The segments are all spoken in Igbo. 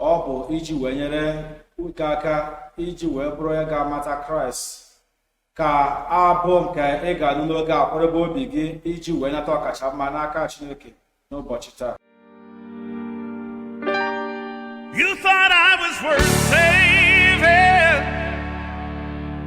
ọ bụ iji wee nyere gị aka iji wee bụrụ onye ga-amata kraịst ka abụ nke ị ga-anụ n'oge a kwadebe obi gị iji wee nata ọkacha mma n'aka chineke n'ụbọchị taa You thought I was worth saving.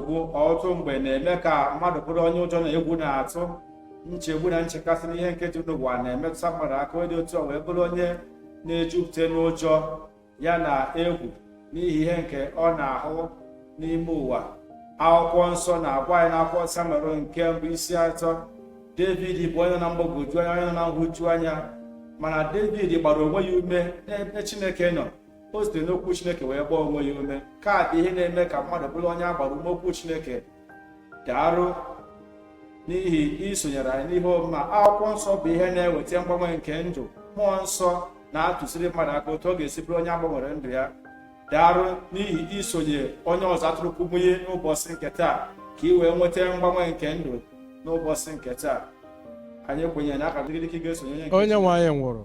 nsogbu ọtụtụ mgbe na-eme ka mmadụ bụrụ onye ụjọ na egwu na-atụ nchegbu na nchekasị n'ihe nke dị n'ụwa na-emetụta mmadụ aka onye otu a wee bụrụ onye na-ejupụta n'ụjọ ya na egwu n'ihi ihe nke ọ na-ahụ n'ime ụwa akwụkwọ nsọ na-agwa anyị n'akwụkwọ samuel nke mbụ isi atọ david bụ onye nọ na mgbagwoju anya onye nọ na nhụju anya mana david gbara onwe ya ume n'ebe chineke nọ o sitere n'okwu chineke wee gbaa onwe ya ume nke a bụ ihe na-eme ka mmadụ bụrụ onye a gbara ume okwu chineke daarụ n'ihi isonyere anyị n'ihe ọmụmụ akwụkwọ nsọ bụ ihe na-eweta mgbanwe nke ndụ mmụọ nsọ na-atụziri mmadụ aka otu ọ ga-esi bụrụ onye a gbanwere ndụ ya daarụ n'ihi isonye onye ọzụzụ atụrụ kumuyi n'ụbọchị nke taa ka ị wee nweta mgbanwe nke ndụ n'ụbọchị nke taa anyị kwenyere na a ga-agọzi gị dị ka ị ga-esonye onye nwe anyị nwụrụ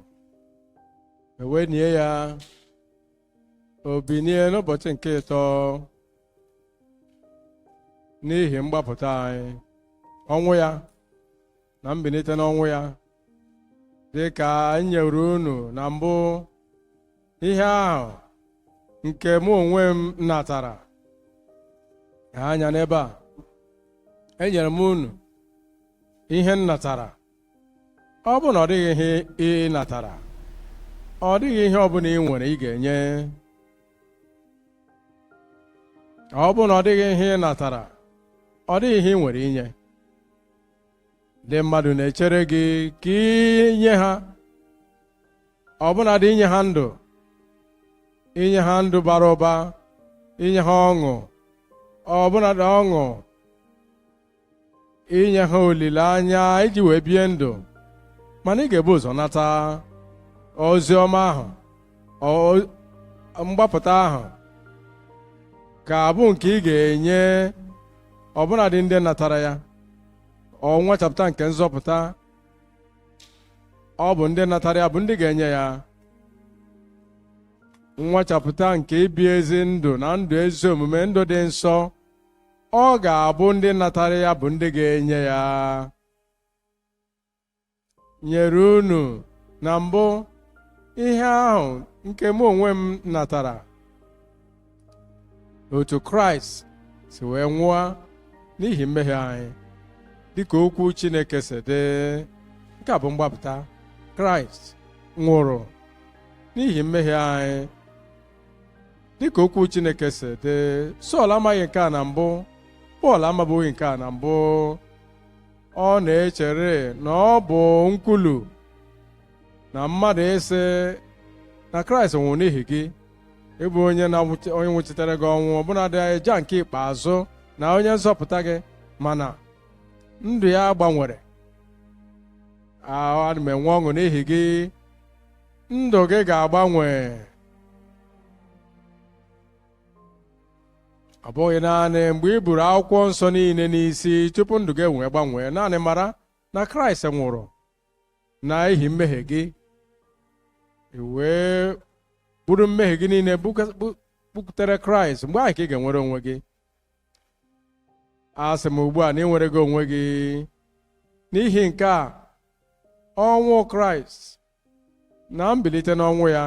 e wee nie ya o binie n'ụbọchị nke ịtọ n'ihi mgbapụta anyị ọnwụ ya na mbinite n'ọnwụ ya dị ka m nyere unu na mbụ ihe ahụ nke mụ onwe m natara ha anya n'ebe a enyere m unu ihe m natara ọ bụ na ọ dịghị ihe ị natara ọ dịghị ihe ọ bụla ị nwere ị ga-enye ọ bụ na ọ dịghị ihe ị natara ọ dịghị ihe ị nwere inye ndị mmadụ na-echere gị ka i nye ha ọbụnadị inye ha ndụ inye ha ndụ bara ụba inye ha ọṅụ ọbụnadị ọṅụ inye ha olileanya iji wee bie ndụ mana ị ga-ebu ụzọ nata ozi ọma ahụ mgbapụta ahụ ga-abụ nke ị ga-enye ọbụnadị ndị natara ya ọ nwachapụta nke nzọpụta ọ bụ ndị natara ya bụ ndị ga-enye ya nwachapụta nke ibi ezi ndụ na ndụ ezi omume ndụ dị nsọ ọ ga-abụ ndị natara ya bụ ndị ga-enye ya nyere unu na mbụ ihe ahụ nke mụ onwe m natara otu kraịst si wee nwụọ n'ihi mmehie anyị dịka okwu chineke si dị nke a bụ mgbapụta kraịst nwụrụ n'ihi mmehie anyị dịka okwu Chineke si dị Sọl amaghị nke a na mbụ Pọl amabughị nke a na mbụ ọ na-echere na ọ bụ nkwulu na mmadụ ịsị na Kraịst nwụrụ n'ihi gị ịbụ onye onye nwụchitere gị ọnwụ ọbụnadị aja nke ikpeazụ na onye nzọpụta gị mana ndụ ya gbanwere ana m enwe ọṅụ n'ihi gị ndụ gị ga-agbanwe ọ bụghị naanị mgbe ị buru akwụkwọ nsọ niile n'isi tupu ndụ gị ewee gbanwee naanị mara na kraịst nwụrụ na ihi mmehie gị wee buru mmehie gị niile bukwutere kraịst mgbe ahụ ka ị ga-enwere onwe gị asị m ugbu a na ị nwere gị onwe gị n'ihi nke a ọnwụ kraịst na mbilite n'ọnwụ ya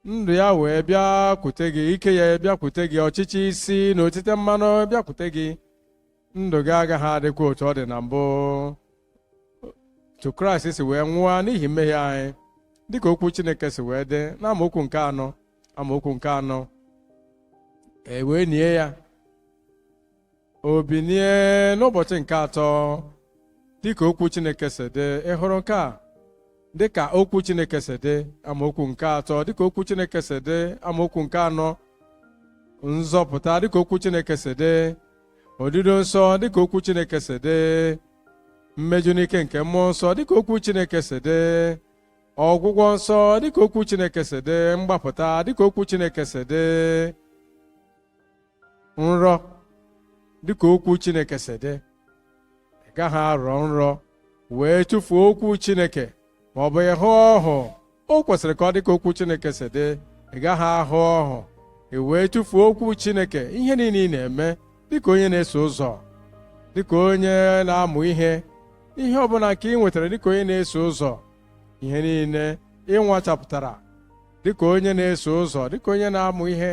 ndụ ya wee bịakwute gị ike ya bịakwute gị ọchịchị isi na otite mmanụ bịakwute gị ndụ gị agaghị adịkwa otu ọ dị na mbụ otu kraịst si wee nwụọ n'ihi mmehie anyị dịka okwu chineke si wee dị na amaokwu amaokwu nke anọ e wee nie ya o binie n'ụbọchị nke atọ dịka okwu Chineke si dị ị hụrụ nke a dịka okwu Chineke si dị amaokwu nke atọ dịka okwu Chineke si dị amaokwu nke anọ nzọpụta dịka okwu Chineke si dị odido nsọ dịka okwu Chineke si dị mmeju n'ike nke mmụọ nsọ dịka okwu Chineke si dị ọgwụgwọ nsọ dịka okwu Chineke si dị mgbapụta dịka okwu Chineke si dị nrọ dịka okwu Chineke si dị ị gaghị arọ nrọ wee tụfuo okwu Chineke ma ọ bụ ịhụ ọhụ o kwesịrị ka ọ dị ka okwu Chineke si dị ị gaghị ahụ ọhụ ị wee tụfuo okwu Chineke ihe niile ị na-eme dịka onye na-eso ụzọ dịka onye na-amụ ihe ihe ọbụla nke ị nwetara dịka onye na-eso ụzọ ihe niile ị nwachapụtara dịka onye na-eso ụzọ dịka onye na-amụ ihe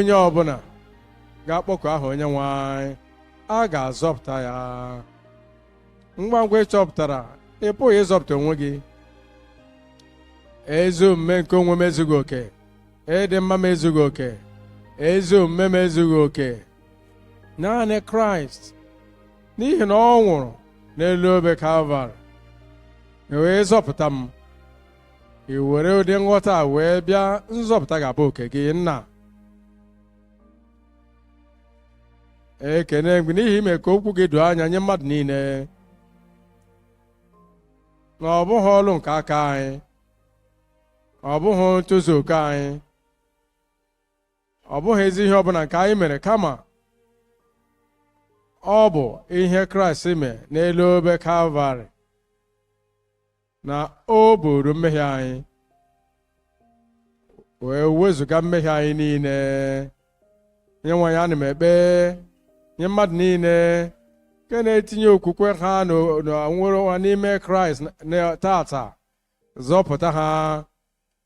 onye ọbụla ga-akpọku aha onye nwe anyị a ga-azọpụta ya ngwa ngwa ị chọpụtara ị pụghị ịzọpụta onwe gị ezi omume nke onwe m ezughị oke ịdị mma m ezughị oke ezi omume m ezughị oke naanị kraịst n'ihi na ọ nwụrụ n'elu obe kalvarị wee zọpụta m i were ụdị nghọta a wee bịa nzọpụta ga-abụ oke gị nna ekene m gị n'ihi ime ka okwu gị doo anya nye mmadụ niile na ọ bụghị ọlụ nke aka anyị ọ bụghị ntozu oke anyị ọ bụghị ezi ihe ọbụla nke anyị mere kama ọ bụ ihe kraịst mee n'elu obe kalvarị na o buru mmehie anyị wee wezụga mmehie anyị niile onye nwe anyị ana m ekpe nye mmadụ niile nke na-etinye okwukwe ha na nwere n'ime kraịst taata zọpụta ha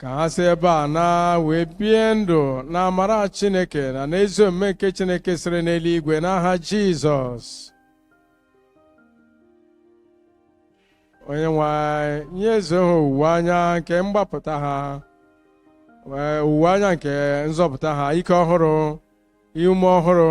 ka ha si ebe a naa wee bie ndụ na amara Chineke na n'ezi omume nke Chineke siri n'eluigwe n'aha Jizọs onye nwe anyị nyezie ha owuwe anya nke mgbapụta ha owuwe anya nke nzọpụta ha ike ọhụrụ ume ọhụrụ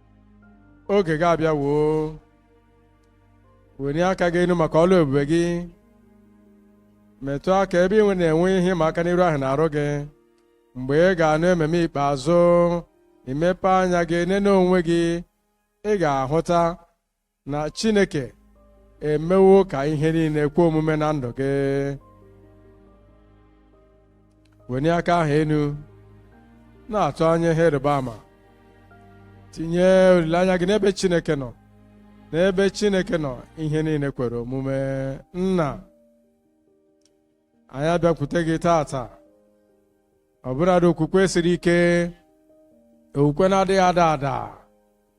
oge gị abịawo welie aka gị elu maka ọlụ ebube gị metụ aka ebe ị na-enwe ihe ịma aka n'iru ahụ n'arụ gị mgbe ị ga-anụ amen ikpeazụ i mepee anya gị nene onwe gị ị ga-ahụta na Chineke emewo ka ihe niile kwe omume na ndụ gị wenie aka ahụ elu na-atụ anya ihe ịrịba ama tinye olileanya gị n'ebe Chineke nọ n'ebe Chineke nọ ihe niile kwere omume nna anyị abịakwute gị taata ọbụladị okwukwe siri ike okwukwe na-adịghị ada ada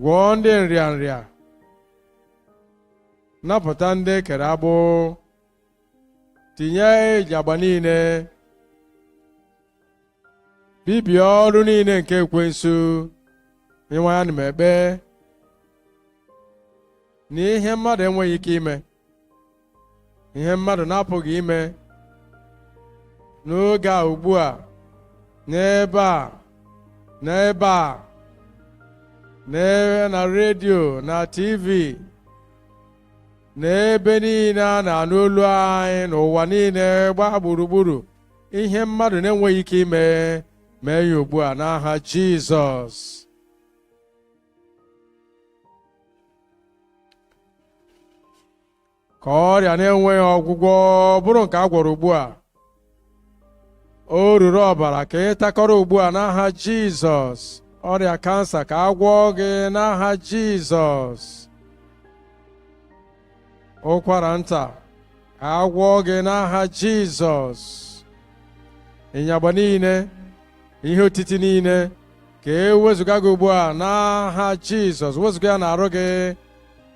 gwọọ ndị nrịanrịa napụta ndị e kere agbụ tijie inyagba niile bibie ọrụ niile nke ekwensu onye nwe anyị ana m ekpe na ihe mmadụ enweghị ike ime ihe mmadụ na-apụghị ime n'oge a ugbu a n'ebe a n'ebe a n'ebe na redio na tv n'ebe niile a na-anụ olu anyị n'ụwa niile gbaa gburugburu ihe mmadụ na-enweghị ike ime mee ya ugbu a n'aha Jizọs ka ọrịa na-enweghị ọgwụgwọ bụrụ nke a gwọrọ ugbu a oruru ọbara ka ị takọrọ ugbu a n'aha Jizọs ọrịa kansa ka a gwọọ gị n'aha Jizọs ụkwara nta ka a gwọọ gị n'aha Jizọs ịnyagba niile ihe otiti niile ka e wezụga gị ugbu a n'aha Jizọs wezụga ya n'arụ gị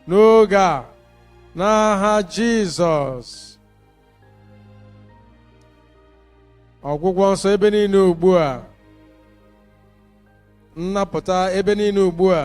n'oge a n'aha Jizọs ọgwụgwọ nsọ ebe niile ugbu a nnapụta ebe niile ugbu a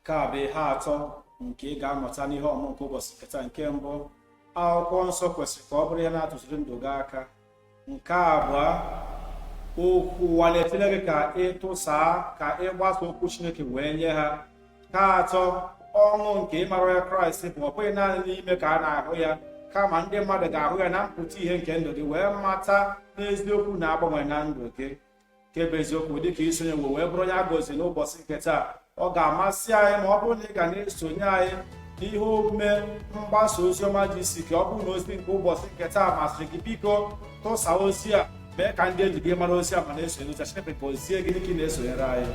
nke a bụ ihe atọ nke ị ga-amụta n'ihe ọmụmụ nke ụbọchị nke taa nke mbụ akwụkwọ nsọ kwesịrị ka ọ bụrụ ihe na-atụziri ndụ gị aka nke abụọ okwu ụwa na-etile gị ka ị tụsaa ka ị gbasa okwu chineke wee nye ha nke atọ ọṅụ nke ịmara onye kraịst bụ ọ bụghị naanị n'ime ka a na-ahụ ya kama ndị mmadụ ga-ahụ ya na mpụta ihe nke ndụ gị wee mata n'eziokwu na-agbanwe na ndụ gị nke bụ eziokwu dịka i sonyewo wee bụrụ onye a gọziri n'ụbọchị nke taa ọ ga-amasị anyị ma ọ bụrụ na ị ga na-esonye anyị n'ihe omume mgbasa ozi ọma GCK ọ bụrụ na ozi nke ụbọchị nke taa masịrị gị biko tụsaa ozi a mee ka ndị enyi gị mara ozi a ma na-esonye ozi a Chineke gọzie gị dịka ị na-esonyere anyị